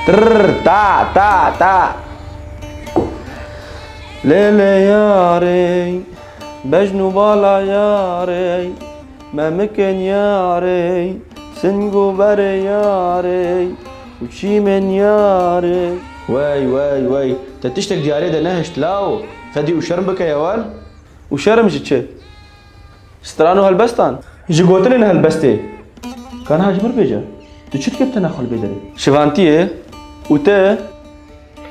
Trrr ta ta ta Lêlê yarê Bejn û bala yarê Me mikin yarê Sing û berê yarê Û çîmên yarê Wey wey wey Te tiştek diyarê de nehişt lawo Fedî û şerm bike ya wan Û şerm ji çi? Stran û helbestan. Ji gotinên helbestê. Ka niha ji min bêje. Tu çi dikê tena xwe li bê derê. Şivantiyê û te.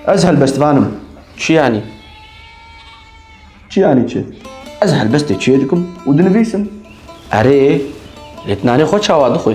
Ez helbestvan im. Çi yanî? Çi yanî çi? Ez helbestê çiyê dikim û dinivîsim. Erê, lê tu nanê xwe çawa dixwî?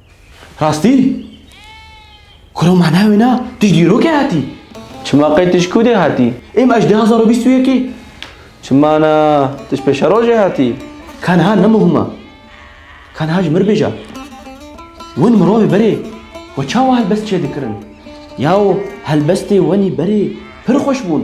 Rastî? Kura ma navê na tu dîrokê hatî? Çima qey tu ji ku dê hatî? Ê ma ji du hezar û bîst û yekê? Çima na tu ji pêşerojê hatî? Ka niha ne muhim e. Ka niha ji mir bêje. Win mirovê berê xwe çawa helbest çêdikirin? Yaw helbestê wenî berê pir xweş bûn.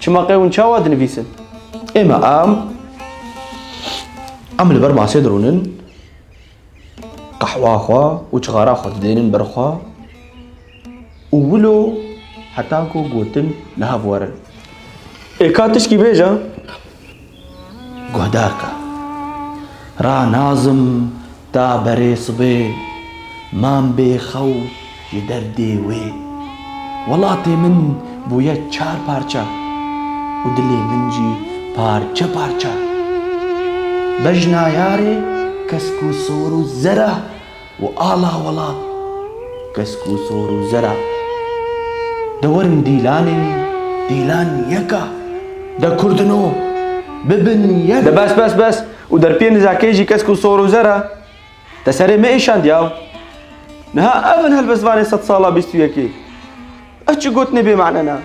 Çima qey hûn çawa dinivîsin? Ême em em li ber masê dirûnin, qehwa xwe û çixara xwe didênin ber xwe û wilo heta ku gotin li hev werin. Ê ka tişkî bêje? Guhdarka ra nazim ta berê sibê mam bê xew ji derdê wê. Welatê min bûye çar parça û dilê min jî parçe parça. Bejna yarê kesk û sor û zera. Û ala welat kesk û sor û zera De werin dîlanê dîlan yeka De kurdino bibin yek. De bes bes bes û derpiyê nizakê jî kesk û sor û zera Te serê me îşand yaw Niha ev in helbestvanê sed sala bîst û yekê Ev çi gotinê bê mane na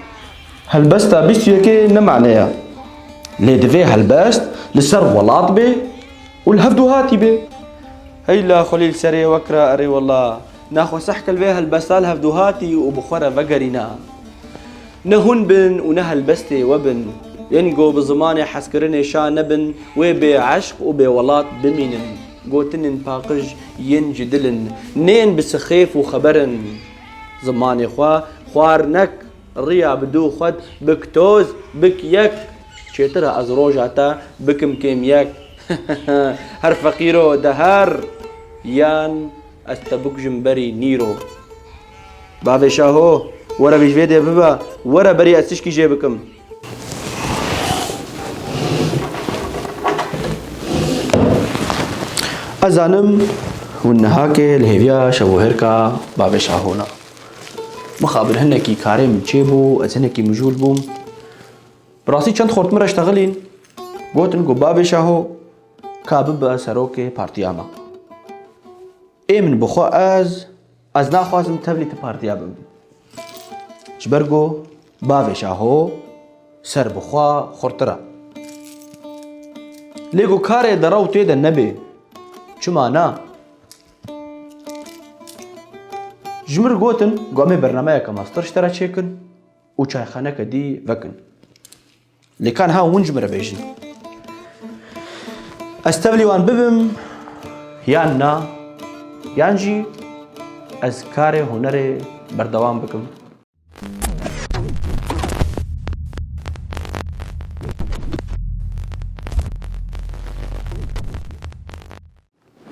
Helbesta bîst û yekê ne mane ya Lê divê helbest li ser welat bê û li hev duhatî bê. Hey la Xulîl serê we kira erê wela na xwe sehkil vê helbesta li hev duhatî û bi xwe re vegerîna. Ne hûn bin û ne helbestê we bin. Yên ku bi zimanê hezkirinê şa nebin wê bê eşq û bê welat bimînin. Gotinên paqij yên ji dil in. Neyên bi sixêf û xeber in. Zimanê xwe xwar nek. Riya bi dû xwed bik toz bik yek. Çêtir e ez roja te bikim kêm yek. Her feqîro de her yan ez te bikujim berî nîro. Bavê Şaho were vê ji vê dê bibe were berî ez tişkî jê bikim. Ez zanim hûn nihakê li hêviya şevohêrka bavê Şaho ne. Mixabin hinekî karê min çêbû, ez hinekî mijûl bûm. Bi rastî çend xort min re ştexilîn, gotin ku bavê Şaho ka bibe serokê partiya me. Ê min bixwe ez, ez naxwazim tevlî ti partiya bim. Ji ber ku bavê Şaho ser bi xwe xurtir e. Lê ku karê dera û tê de nebê, çima na? Ji min re gotin ku em ê bernameyeke master ji te re çêkin û çayxaneke dî vekin. Lê ka niha hûn ji min re bêjin. Ez tevlî wan bibim yan na yan jî ez karê hunerê berdewam bikim.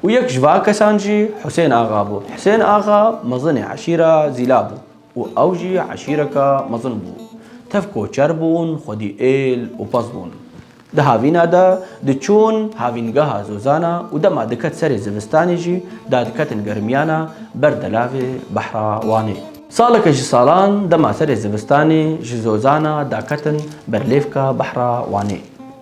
Û yek ji va kesan jî Husên Axa bû. Husên Axa mezinê eşîra Zîla bû û ew jî eşîreka mezin bû. Tev koçer bûn, xwedî êl û pez bûn. Di havîna de diçûn havîngeha Zozana û dema diket serê zivistanê jî da diketin germiyana ber delavê behra Wanê. Saleke ji salan dema serê zivistanê ji Zozana da ketin ber lêvka behra Wanê.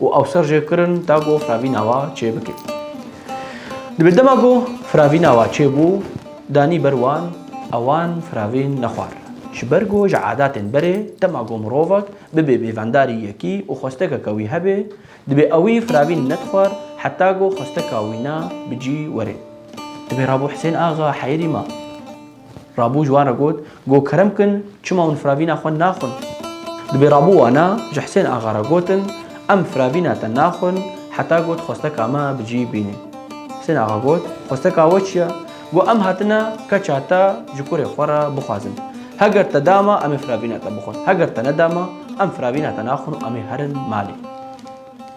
û ew ser jê kirin ta ku firavîna wa çê bike. Dibê dema ku firavîna wa çê bû, danî ber wan û wan firavîn nexwar. Ji ber ku ji adatên berê dema ku mirovek bibe bêvendarî yekî û xwestekeke wî hebe, dibê ewî firavîn nedixwar heta ku xwesteka wîna bi cî were. Dibê Rabo Hisên Axa heyirî ma. Rabû ji wan re got, Go kerem kin, çima hûn firavîna xwe naxwin? Dibê rabû wana ji Hisên axa re gotin, Em firavîna te naxwin heta ku dixwesteka me bi cî bînî. Hisên axa got, Xwesteka we çi ye? Go em hatine keça te ji kurê xwe re bixwazin. Heger te da me, em ê firavîna te bixwin. Heger te neda me, em firavîna te naxwin û em ê herin malê.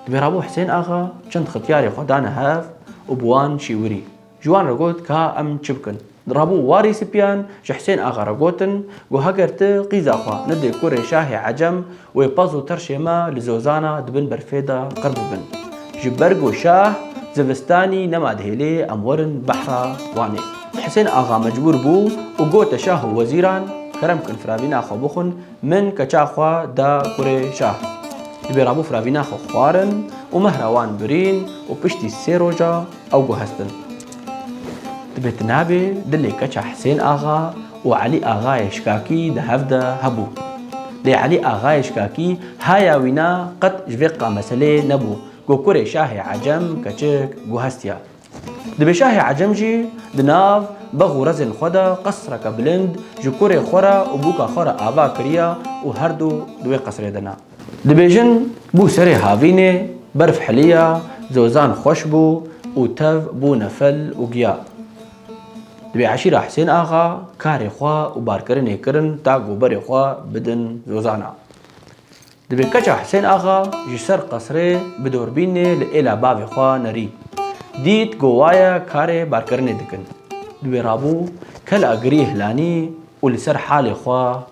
Dibê rabû Hisên axa çend xityarê xwe dane hev û bi wan şîwirî. Ji wan re got ka em çi bikin. Rabû warî sipiyan ji Hisên Axa re gotin ku heger ti qîza xwe nidê kurê şahê ecem wê pez û tirşê me li Zozana di bin berfê de qir bibin. Ji ber ku şah zivistanî nema dihêlê em werin behra Wanê. Hisên Axa mecbûr bû û gote şah û wezîran kerem bikin firavîna xwe bixwin min keça xwe da kurê şah. Divê Rabû firavîna xwe xwarin û mehra wan birîn û piştî sê roja, Ew guhestin. Divê tu nabê dilê keça Hisên Axa û Elî Axayê Şikakî di hev de hebû. Lê Elî Axayê Şikakî haya wî na qet ji vê qa meseleyê nebû ku kurê şahê Ecem keçik guhestiya. Divê şahê Ecem jî di nav bex û rezên xwe de qesreke bilind ji kurê xwe re û bûka xwe re ava kiriya û herdu di wê qesrê de ne. Dibêjin bû serê havînê, berf hiliya, zozan xweş bû û tev bûne fel û giya. Dibê eşîra Hisên Axa karê xwe û barkirinê kirin ta ku berê xwe bidin zozana. Dibê keça Hisên Axa ji ser qesrê bi dorbînê li êla bavê xwe nerî. Dît ku waye karê barkirinê dikin. Dibê rabû kela girî hilanî û li ser halê xwe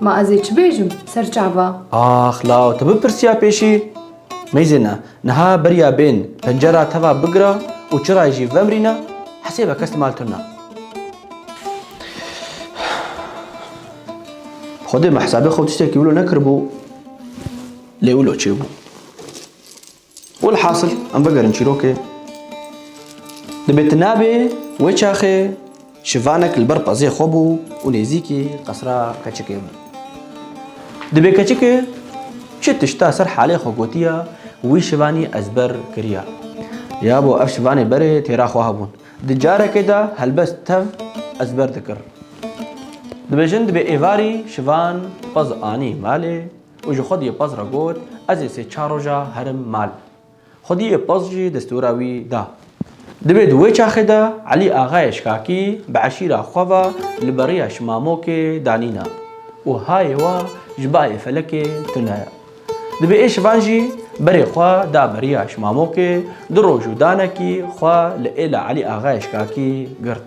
Ma ez ê çi bêjim ser çava? Ax law tu bipirsiya pêşî. Mêzêne, niha beriya bên pencera teva bigira û çirayê jî vemrîne, hesêbe kes li mal tune. Xwedê min hesabê xwe û tiştekî wilo nekiribû, lê wilo çêbû. Welhasil em vegerin çîrokê. Dibê tu nabê wê çaxê şivanek li ber pezê xwe bû û nêzîkî qesra keçikê bû. Dibê keçikê çi tişta ser halê xwe gotiya wî şivanî ez ber kiriya. Ya bo ev şivanê berê têra xwe hebûn. Di carekê de helbest tev ez ber dikir. Dibêjin dibê êvarî şivan pez anî malê. Û ji xwediyê Paz re got, Ez ê sê çar roja herim mal. Xwediyê Paz jî destûra wî da. Divê di wê çaxê de Elî Axayê Şikakî bi eşîra xwe ve li beriya Şimamokê danîna û hayê we ji bayê felekê tune ye. Divê ê şivan jî berê xwe da beriya Şimamokê du roj û danekî xwe li êla Elî Axayê Şikakî girt.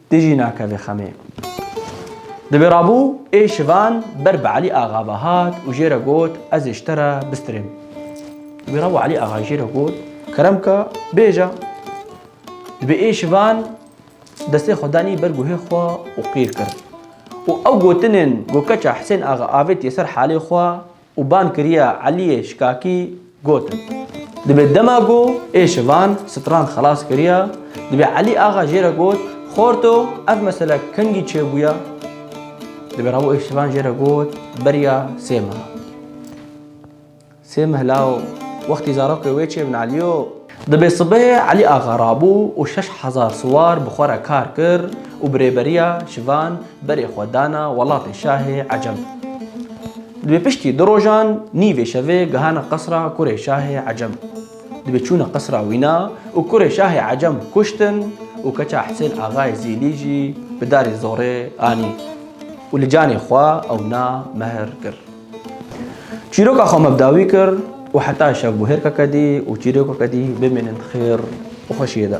Ti jî nake vê xemê. Di vê rabû ê şivan ber bi Elî Axa ve hat û jê re got ez ê ji te re bistirêm. Di vê rabû Elî Axa jê re got kerem ke bêje. Di vê ê şivan destê xwe danî ber guhê xwe û qîr kir. Û ew gotinên ku keça Hisên Axa avêtiye ser halê xwe û ban kiriya Eliyê Şikakî gotin, Dibê dema ku ê şivan stran xelas kiriya, dibê Elî Axa jê re got, Xorto ev mesele kengî çêbûya? Dibê rabo ê şivan jê re got, Beriya sê meha. Sê meh law wextî zarokê wê çêbin Eliyo. Dibê sibehê Elî Axa rabû û şeş hezar siwar bi xwe re kar kir û bi rêberiya şivan berê xwe dana welatê şahê Ecem. Dibê piştî du rojan nîvê şevê gihana qesra kurê şahê Ecem. Dibê çûne qesra wîna û kurê şahê Ecem kuştin û keça Hisên Axayê Zîlî jî bi darê zorê anî û li canê xwe ewna mehr kir. Çîroka xwe me bi dawî kir û heta îşev bû hêrka kedî û çîroka kedî bimînin di xêr û xweşiyê de.